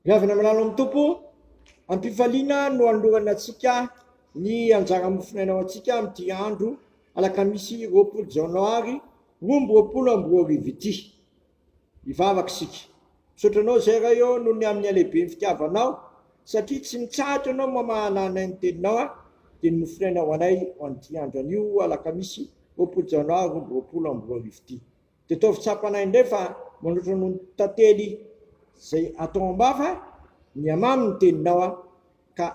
Miavona malalo amin'ny Tompo, ampifaliana no anolorana antsika ny anjara mofonaina ho antsika amin'ity andro alakamisy roapolo janoary roa amby roapolo amby roa arivo ity. Hivavaka isika. Misaotra anao izay Ray ô noho ny amin'ny halehiben'ny fitiavanao satria tsy mitsahatra ianao mamahana anay ny teninao aho dia ny mofonaina ho anay ho an'ity andro anio alakamisy roapolo janoary roa amby roapolo amby roa arivo ity. Dia ataovy tsapanay indray fa manoatra noho ny tantely izay atao am-bava, mihamamy ny teninao aho ka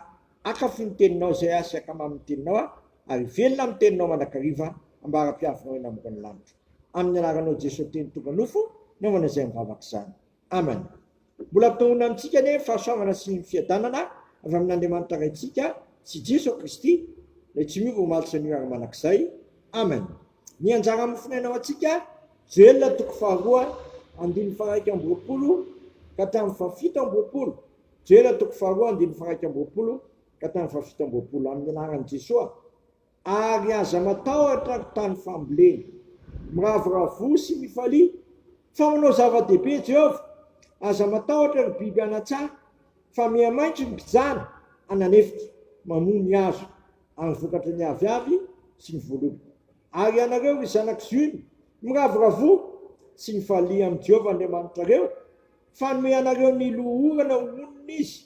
akafy ny teninao izay aho sy akamamy ny teninao aho ary velona amin'ny teninao mandrakariva ambara-piavinao eny ambonin'ny lanitra. Amin'ny anaranao Jeso Teny tonga nofo, naomana izay mivavaka izany. Amany. Mbola ampitahoana amintsika anie ny fahasoavana sy ny fiadanana avy amin'Andriamanitra Raintsika sy i Jeso Kristy, Ilay tsy miova omaly sy anio ary manak'izay. Amany. Ny anjara mofonaina ho antsika, Joela toko faharoa andininy faharaika amby roapolo ka hatramin'ny fahafito amby roapolo, Joela toko faharoa andininy faharaika amby roapolo ka hatramin'ny fahafito amby roapolo, amin'ny anaran'i Jesoa. ary aza matahotra ry tany fambolena. Miravoravoa sy mifalia, fa manao zava-dehibe Jehovah. Aza matahotra ry biby anan-tsaha, fa mihamaitso ny mpijana anan'efitra, mamoa ny hazo ary ny vokatry ny aviavy sy ny voaloboka. Ary ianareo ry zanak'i Ziona, miravoravoa sy mifalia amin'i Jehovah Andriamanitrareo, fa hanome anareo ny loholona ho onony izy.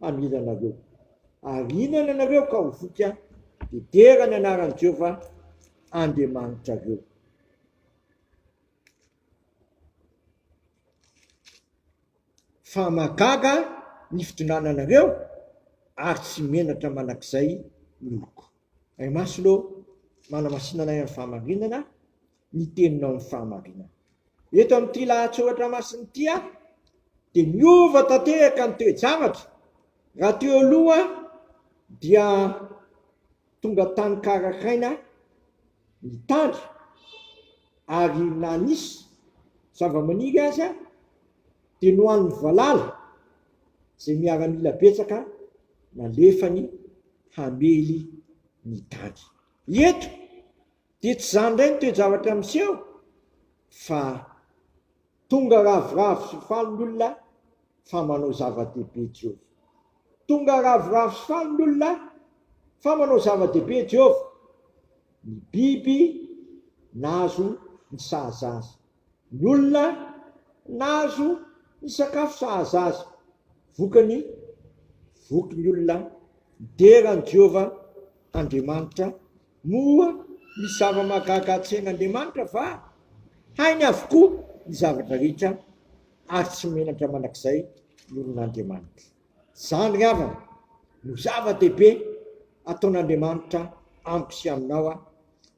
hamela anareo. Ary hihinana ianareo ka ho voky aho, dia dera ny anaran'i Jehovah Andriamanitrareo. Fa mahagaga ny fitondrananareo ary tsy menatra mandrakizay ny oloko. Ray Masina ô, manamasinanay amin'ny fahamarinana, ny teninao ny fahamarinana. Eto amin'ity lahatsoratra masina ity dia niova tanteraka ny toe-javatra, raha teo aloha dia tonga tany Karakaina ny tany ary na nisy zavamaniry aza dia nohanin'ny valala izay miaramila betsaka nalefany hamely ny tany. Eto Dia tsy izany indray ny toe-javatra miseho fa tonga ravoravo sy faly ny olona fa manao zava-dehibe Jehovah. Tonga ravoravo sy faly ny olona fa manao zava-dehibe Jehovah. Ny biby nahazo ny sahaza azy. Ny olona nahazo ny sakafo sahaza azy, vokany, voky ny olona midera an'i Jehovah Andriamanitra. Moa misy zava-mahagaga hatrehin'Andriamanitra va? Hainy avokoa ny zavatra rehetra, ary tsy menatra mandrakizay ny olona Andriamanitra. Izany havana no zava-dehibe ataon'Andriamanitra amiko sy aminao.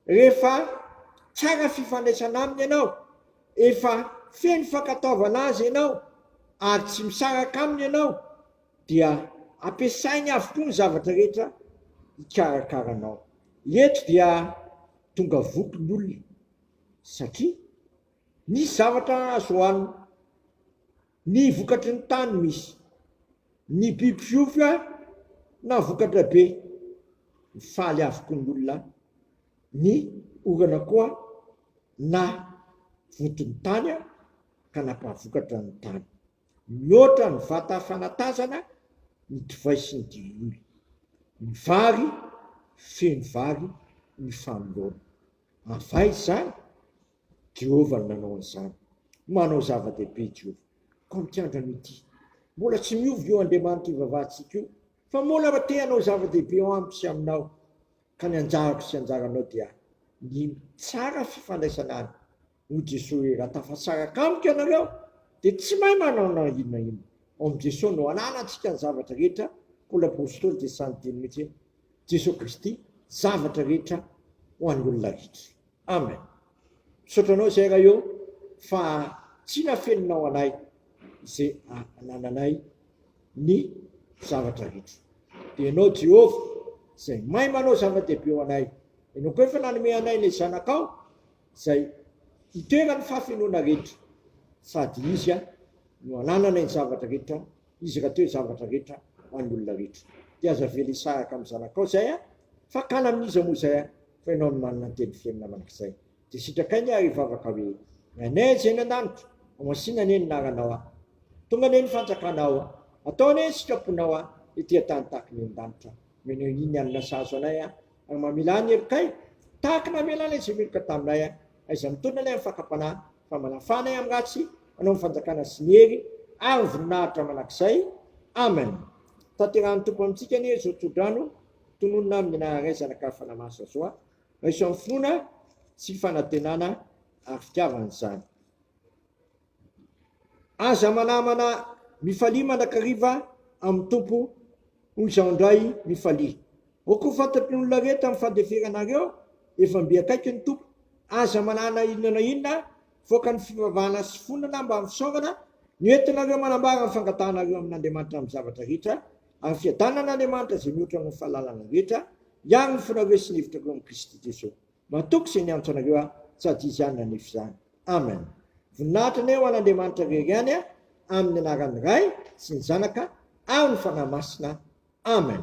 Rehefa tsara fifandraisana aminy ianao, efa feno fankatoavana Azy ianao ary tsy misaraka aminy ianao dia ampiasainy avokoa ny zavatra rehetra hikarakara anao. Eto dia tonga voky ny olona satria nisy zavatra azo hohanina. Ny vokatry ny tany misy ny biby fiofa na vokatra be. Mifaly avokoa ny olona ny orana koa na voton'ny tany ka nampahavokatra ny tany. Mihoatra ny vata fanatazana ny divay sy ny diloilo. Ny vary feno vary ny fanoloana. Avay izany? Jehovah no nanao an'izany. Manao zava-dehibe i Jehovah, koa mikandra an'io tiany. Mbola tsy miova io Andriamanitra ivavahantsika io, fa moana raha te hanao zava-dehibe ao amiko sy aminao, ka ny anjarako sy anjaranao dia ny mitsara fifandraisana any. Hoy Jesosy hoe, Raha tafasaraka amiko ianareo, dia tsy mahay manao na inona na inona. Ao amin'i Jesosy no ananantsika ny zavatra rehetra, Paoly apostoly dia sahy niteny mihitsy hoe, Jesosy Kristy, zavatra rehetra ho an'ny olona rehetra. Amen misaotra anao zay Ray ô fa tsy nafeninao anay ze anananay ny zavatra rehetra de enao Jehovah zay mahay manao zava-dehibe ho anay enao ko efa nanome anay le zanakao zay itoeran'ny fahafenoana rehetra sady izy no anananay ny zavatra rehetra Izy raha teo zavatra rehetra any olona rehetra dia aza avela hisaraka amin'ny zanakao izay a! Fakana amin'iza moa izay a! Fa ianao no manana ny teny fiainana mandrakizay dia sitrakay anie ary hivavaka hoe, Nenay izay any an-danitra, homasina anie ny anaranao a! Tonga anie ny fanjakanao a! Atao anie ny sitraponao a! Ety an-tany tahaka ny eny an-danitra Menao iny ny alina sahazo anay a! Ary mamela ahy ny helokay tahaka namela an'ilay izay meloka taminay a! Aiza mitondra ilay amin'ny fakam-panahy fa manafana ahy amin'ny ratsy anao ny fanjakana sy ny hery ary ny voninahitra mandrakizay Amen tanterahan'ny Tompo amintsika anie izao tsodrano tononina amin'ny anaran'Ray Zanaka ary Fanahy Masina izao a raiso amin'ny finoana sy fanantenana ary fitiavana izany aza manamana mifalia mandrakariva amin'ny Tompo hoy izaho indray mifalia O ko fantatry ny olona rehetra ny fandeferanareo, efa mby akaiky ny Tompo. Aza manahy na inona na inona voaka ny fivavahana sy fonana mba amin'ny fisaorana, ny hoentinareo manambara ny fangatahanareo amin'Andriamanitra amin'ny zavatra rehetra, ary fiadanan'Andriamanitra izay mihoatra noho ny fahalalana rehetra, hiaro ny fonareo sy ny hevitrareo amin'i Kristy Jesoa. Matoky izay niantso anareo aho sady Izy ihany nanefa izany. Amen. Voninahitra anie ho an'Andriamanitra irery ihany a, amin'ny anaran'ny Ray sy ny Zanaka ary ny Fanahy Masina. Amen.